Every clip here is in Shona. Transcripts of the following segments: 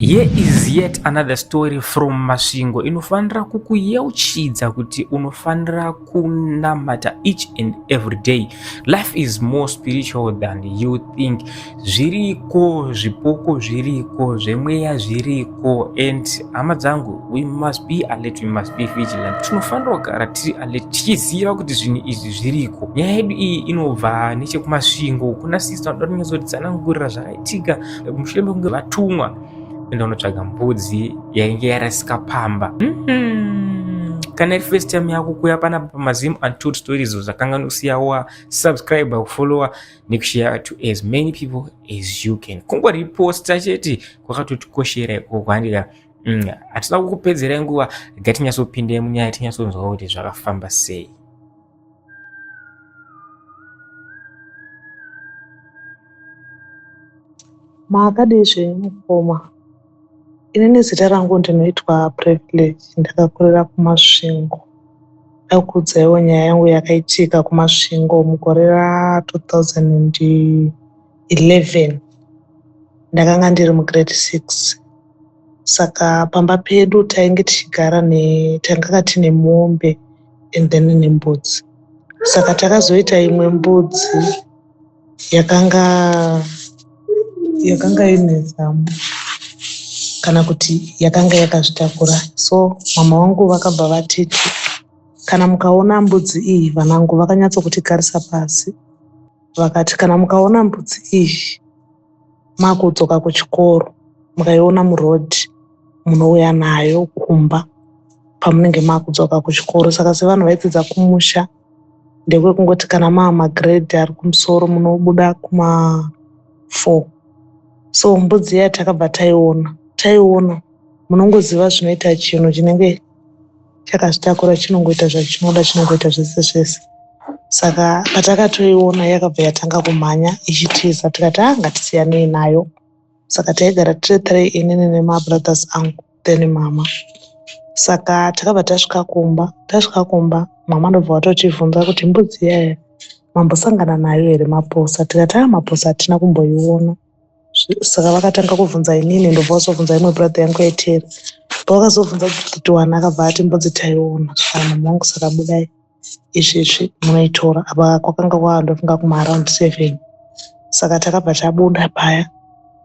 Here is yet another story from Masvingo inofanira kukuyeuchidza kuti unofanira kunamata each and every day. Life is more spiritual than you think. Zviriko zvipoko zviriko zvemweya zviriko and hama dzangu we must be alert, we must be vigilant. Tinofanira kugara tiri alert tichiziva kuti zvinhu izvi zviriko. Nyaya yedu iyi inobva nechekumasvingo kuna sisi vanoda kunyatsotisanangurira zvakaitika mushure mekunge vatumwa enda unotsvaga mbudzi yainge yarasika pamba mm-hmm. kana iri first time yako kuya panapa pamazim untold stories zvakanga nosiyawa subscribe kufollowa nekushare to as many people as you can kungoriposta chete kwakatotikoshera ikoko handika mm, hatina kukupedzerai nguva gatinyasopinda munyaya tinyasonzwa kuti zvakafamba sei Makadii zvenyu mukoma? Ini nezita rangu ndinoitwa Privilege, ndakakurira kuMasvingo. Ndakuudzaiwo nyaya yangu yakaitika kuMasvingo mugore ra 2011 ndakanga ndiri mugrade 6 saka pamba pedu tainge tichigara ne tanganga tine mombe and then nembudzi saka takazoita imwe mbudzi yakanga yakanga ine zamu kana kuti yakanga yakazvitakura so mama wangu vakabva vatiti kana mukaona mbudzi iyi vanangu vakanyatsokuti garisa pasi vakati kana mukaona mbudzi iyi makudzoka kuchikoro mukaiona muroad munouya nayo kumba pamunenge makudzoka kuchikoro saka sevanhu vaipedza kumusha ndekwekungoti kana maamagrade ari kumusoro munobuda kuma four so mbudzi iya takabva taiona taiona munongoziva zvinoita chinhu chinenge chakazvitakura chinongoita zvachinoda chinongoita zvese zvese saka patakatoiona yakabva yatanga kumhanya ichitiza tikati a ah, ngatisiyanei nayo saka taigara tiri tiri inini nemabrothers angu then mama saka takabva tasvika kumba tasvika kumba mama ndobva watotivhunza kuti mbudzi yaya mambosangana nayo here maposa tikati a ah, maposa hatina kumboiona saka vakatanga kuvhunza inini ndobva vazovhunza imwe brother yangu yaiteera pavakazovhunza kuti wani akabva ati mbudzi taiona svanhu mwangu saka budai izvezvi munoitora apa kwakanga kwava ndofunga kumaaround seven saka takabva tabuda paya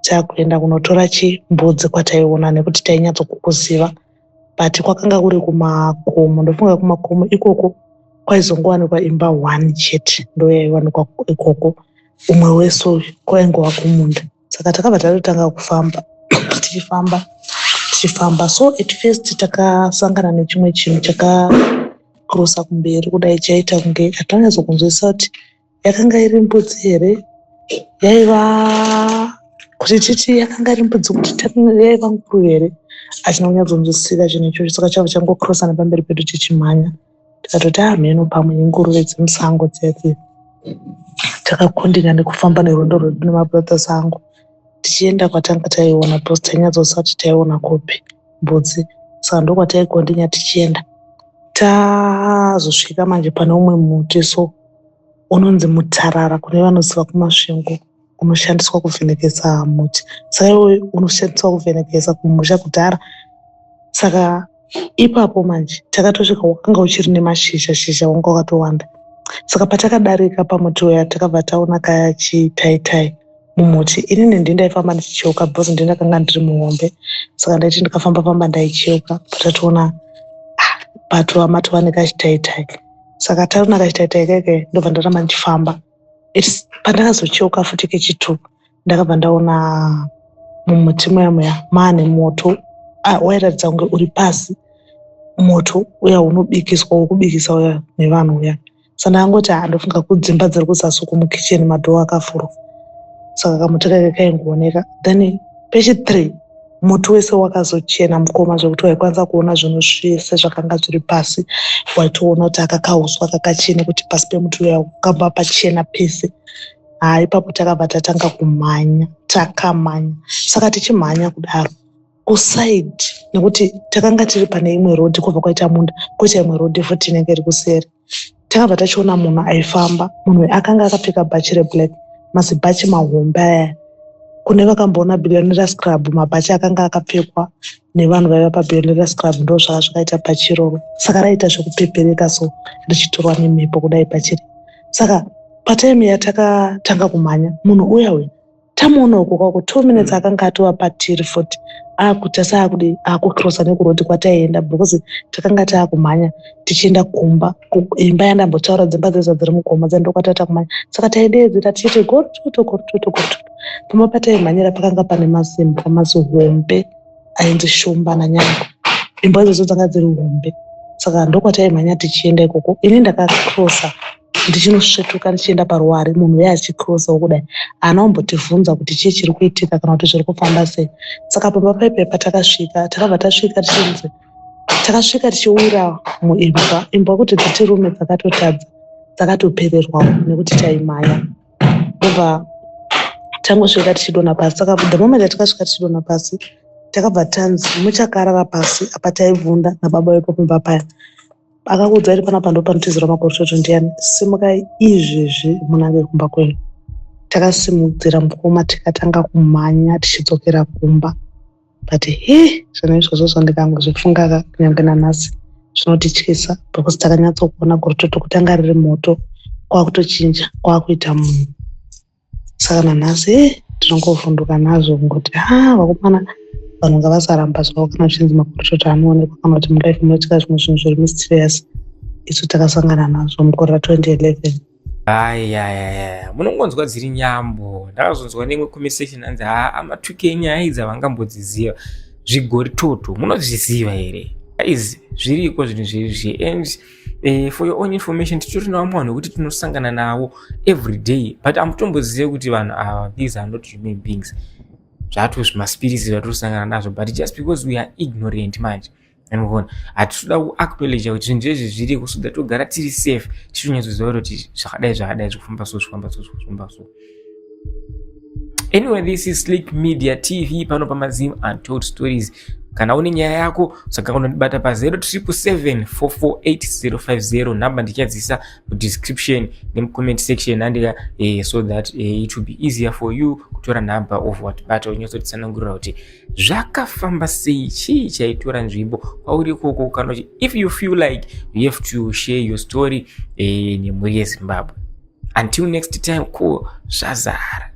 takuenda kunotora chimbudzi kwataiona nekuti tainyatsokukuziva but kwakanga kuri kumakomo ndofunga kumakomo ikoko kwaizowanikwa imba one chete ndoyaiwanikwa ikoko umwe wese uyu kwainge wakumunda saka takabva tatotanga kufamba tichifamba tichifamba so at first takasangana nechimwe chinhu chakakrosa kumberi kudai chaita kunge hatanyazokunzwisisa kuti yakanga iri mbudzi here yaiva kuti titi yakanga iri mbudzi kuti yaiva nguru here achina kunyatsonzwisisa chinhu ichocho saka chava changokrosa nepamberi pedu tichimhanya Tikatoti hamheno pamwe inguruve dzemusango dziya dziya. Takakundikana nekufamba nerwendo rwedu nemabrothers angu tichienda kwatanga taiona because tainyatsoziva kuti taiona kupi mbudzi saka ndokwataikondinya tichienda tazosvika manje pane umwe muti so unonzi mutarara kune vanoziva kumasvingo. unoshandiswa kuvhenekesa muti saka iwe unoshandiswa kuvhenekesa kumusha kudhara saka ipapo manje takatosvika wakanga uchiri nemashizha shizha wanga wakatowanda saka patakadarika pamuti uya takabva taona kaya chitaitai mumuti inini ndi ndaifamba ndichicheuka because ndi ndakanga ndiri muhombe saka ndaiti ndikafamba famba ndaicheuka patatoona ah, patova matova nekachitaitai saka taona kachitaitai keke ndobva ndaramba ndichifamba pandakazocheuka futi kechitu ndakabva ndaona mumuti muya muya maane moto ah, wairatidza kunge uri pasi moto uya unobikiswa wokubikisa uya nevanhu uya sa ndakangoti haa ah, ndofunga kudzimba dziri kuzasi uko mukicheni madhoo akafurwa saka kamoto kaike kaingooneka then pechithree muti wese wakazochena mukoma zvekuti waikwanisa kuona zvinhu zvese zvakanga zviri pasi waitoona kuti aka kauswa kakachena kuti pasi pemuti uya kukamba pachena pese haa ipapo takabva tatanga kumhanya takamhanya saka tichimhanya kudaro kusaidi nekuti takanga tiri pane imwe rodhi kwobva kwaita munda koita imwe rodhi futi inenge iri kuseri takabva tachiona munhu aifamba munhu uyu akanga akapfeka bhachi reblack mazibhachi mahombe aya kune vakamboona billionera scrub mabhachi akanga akapfekwa nevanhu vaiva pabillionera scrub ndo zvaka zvakaita bhachi iroro saka raita zvekupepereka so richitorwa nemhepo kudai bhachi ri saka patime yatakatanga kumhanya munhu uya uya tamuona uko kwako two minutes mm. akanga atova patiri futi akuta saakude akucrosa nekurodi kwataienda because takanga taakumhanya tichienda kumba imba yandambotaura dzimba dzeza dziri mugoma dzandokwataa takumhanya saka taideedzera tichiite gortoto gortoto gortoto pamba pataimhanyira pakanga pane masimba mazihombe ainzi shumba nanyango imba idzodzo dzanga dziri hombe saka ndokwataimhanya tichienda ikoko ini ndakacrosa ndichinosvetuka ndichienda paruware munhu uya achikrosawo kudai haana kumbotivhunza kuti chii chiri kuitika kana kuti zviri kufamba sei saka pamba paipe patakasvika takabva tasvika tichinzi takasvika tichiwira muimbwa imbwa kuti dziti rume dzakatotadza dzakatopererwawo nekuti taimhanya obva tangosvika tichidona pasi saka the moment yatikasvika tichidona pasi takabva tanzi muchakarara pasi apa taibvunda nababa vepo kumba paya Akakuudza iri panapa ndopanotizira makoroshoto ndiyani? Simukai izvezvi munange kumba kwenyu. Takasimudzira mukoma tikatanga kumhanya tichidzokera kumba. But he zvinhu izvozvo zvandikangozvifunga kunyange nanhasi zvinotityisa because takanyatsokuona gorototo kutanga riri moto kwakutochinja kwakuita munhu. saka nanhasi eh, tinongovhunduka nazvo kungoti ha ah, vakomana vanhu ngavasaramba zvavo kana zvichinzi maporotota anoonekwa kana kuti mulife munoitika zvimwe zvinhu zviri mysterious isu takasangana nazvo mukore ra 2011 ayayaya munongonzwa dziri nyambo ndakazonzwa neimwe conversation anzi ha amatuke enyaya idzi avangambodziziva zvigoritoto munozviziva here aizi zviriko zvinhu zvirizvi and Eh, for your own information titori navamwe vanhu vekuti tinosangana navo every day but amutombozive kuti vanhu ava these are not human beings zvato zvimaspirits zvatosangana nazvo but just because we are ignorant manje anivona hatitoda kuactolege kuti zvinhu zvezvi zviriko so that togara tiri safe tichitonyatsoziva kuti zvakadai zvakadai zvikufamba so zvikufamba so zvikufamba so Anyway, this is Slick Media TV pano pa Mazim Untold Stories. Kana une nyaya yako saka unondibata pa 0777448050 number ndichadzisa mu description ne comment section andika eh, so that eh, it will be easier for you kutora number of what but unyosotsanangurira kuti zvakafamba sei chii chaitora nzvimbo kwauri ikoko kana if you feel like you have to share your story eh, nemhuri yeZimbabwe until next time ko zvazara